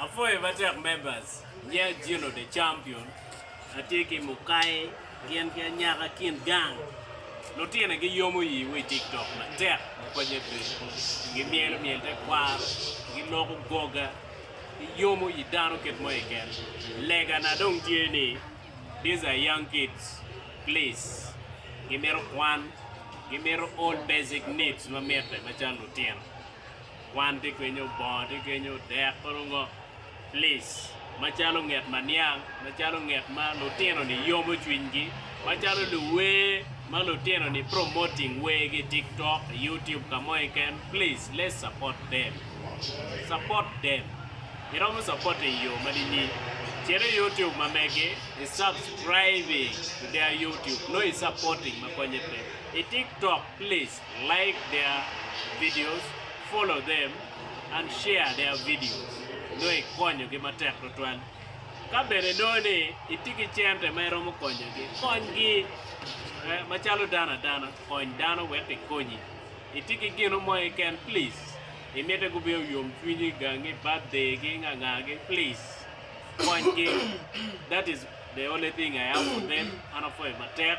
Apwoyo matek members, yeah Gino the champion. Atye ki mukai gin ki anyaka kin gang lutine gi yomo yi wi tiktok matek ma konye bedo gi myelo myel te kwaro gi loko goga ki yomo yi dano kit mo keken lega na dong tye ni these are young kids please gi mito kwan gi mito all basic needs ma mitte macalo lutino Kwan tye kenyo, bongo tye kenyo, dek pe onongo plic macalo nget ma niang, macalo nget ma lutino-ni yomo cwinygi, macalo luwer ma lutino-ni promoting wergi i tiktok, i youtube ka mo keken, please let's support them, support them, iromo support i yo ma nini? Cito i youtube ma megi, i subscribing to their youtube, nongo i supporting ma konye pe, i tiktok please. Like their videos, follow them, and share their videos nongo ikonyogi matek tutwal. Ka bene inongo ni itye ki cente ma iromo konyogi, konygi. Eh, macalo dano adana, kony dano wek kikonyi. Itye ki gino mo keken, please, imite gubed oyom cwinyi, gangi, birthday-gi, ngangagi, please, konygi. That is the only thing I have for them, an apwoyo matek.